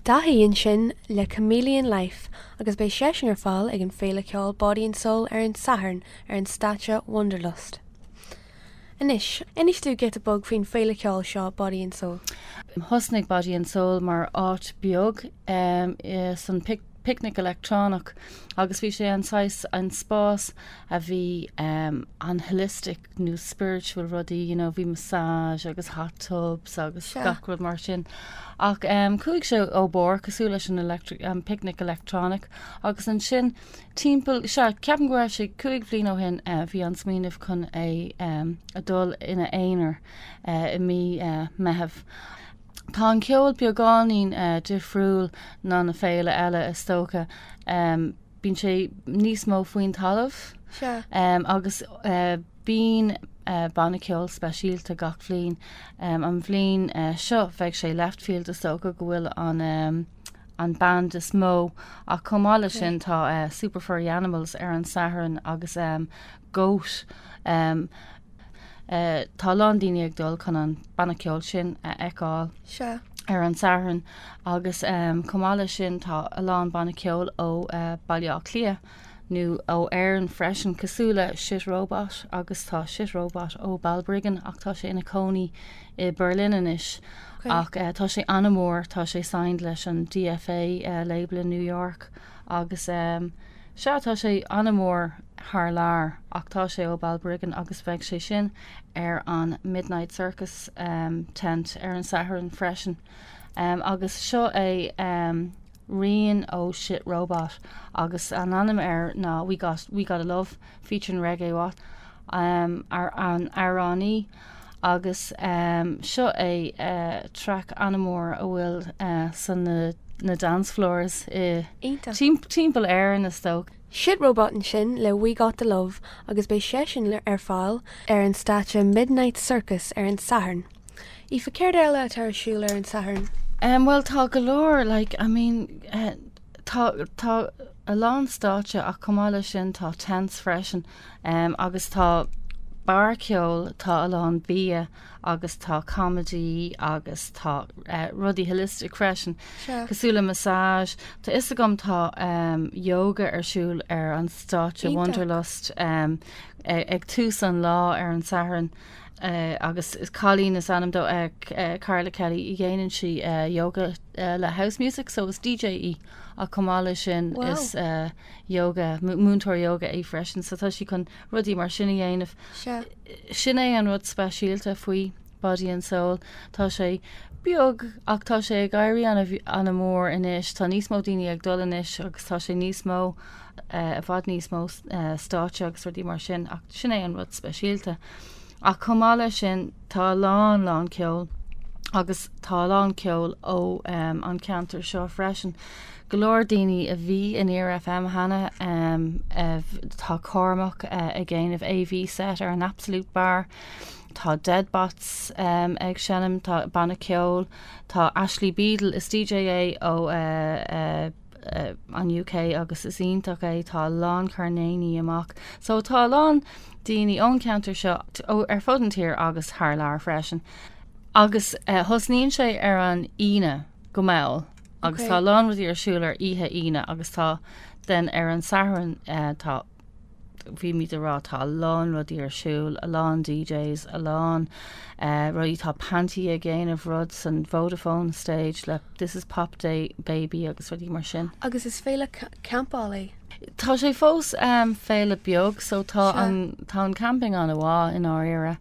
Tacaíonn sin le Chameleon Life agus beidh seisean ar fáil ag an féile ceoil Body and Soul ar an Satharn ar an stáitse Wanderlust. Anois, inis tú giota beag faoin féile ceoil seo Body and Soul. Thosnaigh Body and Soul mar áit beag san Picnic Leictreonach agus bhí sé an saghas an spás a bhí an holistic, nó spiritual rudaí, you know, bhí massage agus hot tubs agus Sea. gach rud mar sin. Ach um, chuaigh sé ró-mhór cosúil leis an electric, um, picnic electronic agus ansin timpeall sea ceapaim go raibh sé cúig bhliain ó shin uh, bhí an smaoineamh chun é um, a dul ina aonar uh, i mí uh, Meitheamh. Tá an ceol beagáinín uh, difriúil ná na féile eile is dócha. Um, bíonn sé níos mó faoin talamh agus bíonn banna ceoil speisialta gach bhliain. An bhliain seo beidh sé Leftfield is dócha go bhfuil an an band is mó ach chomh maith leis sin tá Super Furry Animals ar an Satharn agus Goat, em. eh tá a lán daoine ag dul chun an banna ceoil sin a fheiceáil. Sea. ar an Satharn agus em chomh maith leis sin tá a lán banna ceoil ó eh Baile Átha Cliath nó ó Éirinn freisin cosúil le Shit Robot agus tá Shit Robot ó Balbriggan ach tá sé ina chónaí i Berlin anois ach eh tá sé an-mhór tá sé signed leis an DFA eh label i New York Agus sea, tá sé an-mhór thar lear ach tá sé ó Balbriggan agus beidh sé sin ar an Midnight Circus tent ar an Satharn freisin. Agus seo é rian ó Shit Robot agus an ainm air ná We Got, We Got A Love featuring Reggie Watts, an amhránaí, Agus seo é track an-mhór a bhfuil san na na dance floors i timpeall Éireann is dócha. Shit Robot ansin le We Got The Love agus beidh seisean ar fáil ar an stáitse Midnight Circus ar an Satharn. Aoife, céard eile atá ar siúl ar an Satharn? Bhuel tá go leor like I mean, Tá, tá a lán stáitse ach chomh maith leis sin tá tents freisin agus tá bar ceoil, tá a lán bia agus tá comedy agus tá rudaí holistic freisin cosúil le massage, tá 'fhios agam tá yoga ar siúl ar an stáitse Wanderlust ag tús an lá ar an Satharn. agus cailín is ainm di Carla Kelly dhéanann sí yoga le house music so is DJ í ach chomh maith leis sin is yoga múinteoir yoga é freisin so tá sí chun rudaí mar sin a dhéanamh sin é an rud speisialta faoi body and soul tá sé beag ach tá sé ag éirí an-mhór anois tá níos mó daoine ag dul anois agus tá sé níos mó i bhfad níos mó stáitse agus rudaí mar sin ach sin é an rud speisialta. Ach chomh maith leis sin tá a lán lán ceol agus tá a lán ceol ó um, an ceantar seo freisin. Go leor daoine a bhí in Near FM cheana um, tá Cormac uh, eh, ag déanamh AV set ar an Absolute Bar. Tá Deadbots um, ag seinm tá banna ceol, tá Ashley Beadle is DJ é ó uh, uh, an UK agus is iontach é, tá a lán coirnéilíní amach so tá a lán daoine ón cheantar seo, ar fud an tír agus thar lear freisin agus tosnaíonn sé ar an Aoine go mall agus tá a lán rudaí ar siúl ar oíche Aoine agus tá den ar an Satharn tá bhí muid ag rá tá a lán rudaí ar siúl, a lán DJs, a lán rudaí, tá Panti ag déanamh rud san Vodafone stage le This is Pop Baby agus rudaí mar sin. Agus is féile campáil é? Tá sé fós féile beag so tá an camping an-mhaith i ndáiríre.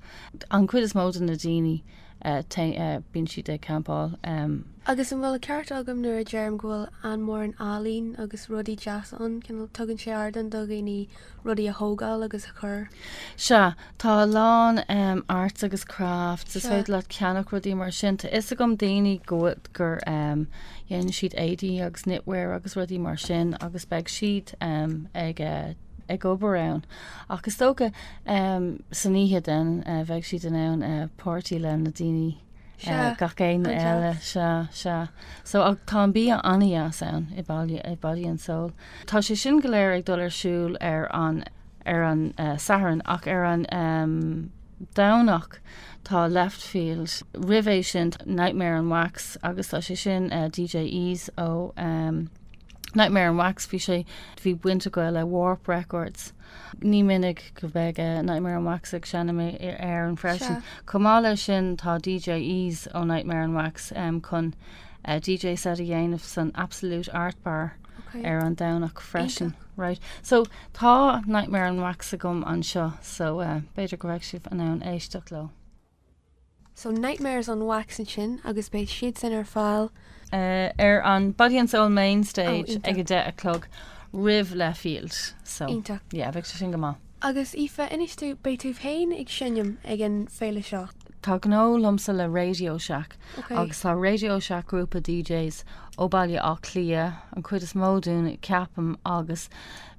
An cuid is mó de na daoine. bíonn siad ag campáil. Agus an bhfuil an ceart agam nuair a deirim go bhfuil an-mhórán ealaín agus rudaí deasa ann, cineál tugann sé ardán do dhaoine rudaí a thógáil agus a chur. Sea, tá a lán arts agus crafts, is féidir leat ceannach rudaí mar sin, tá a fhios agam daoine gur dhéanann siad éadaí agus knitwear agus rudaí mar sin agus beidh siad ag obair ann. Ach is dócha, san oíche den, bheadh siad in ann páirtí le na daoine gach éinne eile. Sea, sea. So tá an bia an-dheas ann i Body and Soul. Tá sé sin go léir ag dul ar siúl ar an, ar an Satharn ach ar an Domhnach tá Leftfield. Roimh é sin Nightmares on Wax agus tá sé sin DJ Ease ó, Nightmare on Wax, bhí sé, bhí baint acu le Warp Records. Ní minic go bheidh Nightmare on Wax ag seinm in Éirinn freisin. Chomh maith le sin tá DJ Ease ó Nightmare on Wax chun DJ set a dhéanamh san Absolute Art Bar ar an Domhnach freisin. Right. So tá Nightmare on Wax agam anseo so b'fhéidir go bheidh sibh in ann éisteacht leo. So nightmares on wax ansin agus beidh siadsan ar fáil. ar an Body and Soul Main Stage ag a deich a chlog roimh Leftfield so Iontach. yeah beidh sé sin go maith. Agus Aoife, anois tú, beidh tú féin ag seinm ag an féile seo? Tá gnó agamsa le Radio Shack Ok. agus tá Radio Shack grúpa DJs ó Baile Átha Cliath, an chuid is mó dúinn ceapaim, agus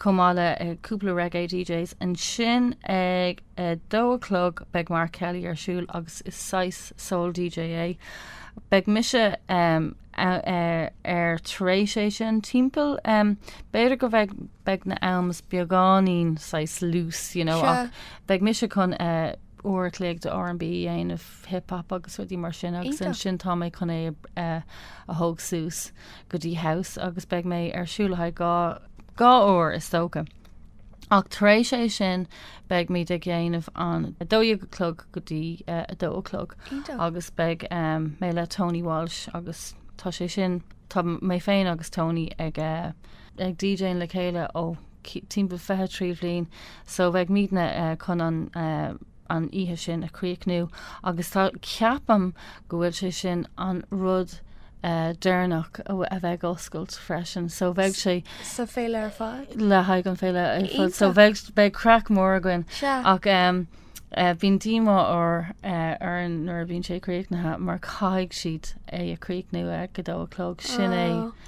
chomh maith le cúpla reggae DJs. Ansin ag a dó a chlog beidh Mark Kelly ar siúl agus is saghas soul DJ é. Beidh mise air tar éis é sin timpeall, b'fhéidir go bheidh beidh na hamanna beagáinín saghas loose, you know, Sure. ach beidh mise chun uair a chloig de R&B a dhéanamh, hip hop agus rudaí mar sin agus Iontach. ansin tá mé chun é a thóg suas. go dtí House agus beidh mé ar siúl le haghaidh dhá dhá uair is dócha. Ach tar éis é sin beidh muid ag déanamh an 12 a chlog go dtí 2 a chlog Iontach. agus beidh em, mé le Tony Walsh agus tá sé sin, tá mé féin agus Tony ag eh, ag DJing le chéile ó cí- timpeall 23 bhliain so beidh muidne eh, chun an eh, an oíche sin a chríochnú agus tá, ceapaim, go bhfuil sé sin an rud deireanach a bheidh oscailt freisin so beidh sé. sa féile ar fad? le haghaidh an féile ar fad so beidh, beidh craic mhór againn ach bíonn díomá orainn nuair a bhíonn sé críochnaithe mar caithfidh siad é a chríochnú ag a dó a chlog, sin é.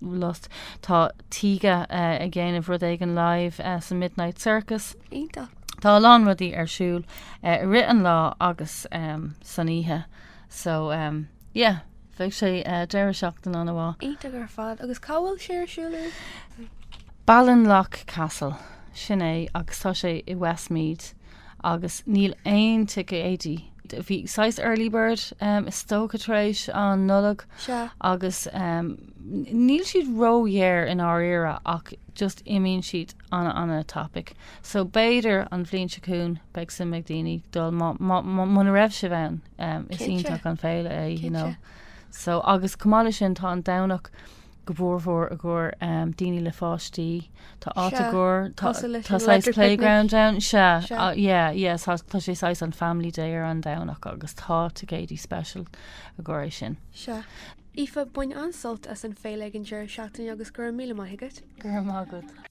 lost. Tá Tíge ag déanamh rud éigin live sa Midnight Circus. Iontach. Tá a lán rudaí ar siúl i rith an lá agus san oíche. So, yeah, beidh sé deireadh seachtaine an-mhaith. Iontach ar fad. Agus cá bhfuil sé ar siúl uair? Ballinlough Castle, sin é, agus tá sé i Westmeath. agus níl aon ticéidí. Bhí saghas early bird um, is dócha tar éis an Nollaig Sea. agus um, níl siad ródhaor i ndáiríre ach just imíonn siad ana ana tapaidh. So b'fhéidir an bhliain seo chugainn beidh suim ag daoine dul má, má, má, muna raibh sibh ann um, is Cinnte. iontach an féile é, you know. Cinnte. So agus chomh maith leis sin tá an Domhnach go formhór i gcomhair daoine le páistí. Tá áit i gcomhair tá saghas playground ann so tá sé saghas an family day ar an Domhnach agus tá ticéidí special i gcomhair é sin. Sea. Aoife bain an-sult as an féile ag an deireadh seachtaine agus go raibh míle maith agat. Go raibh maith agat.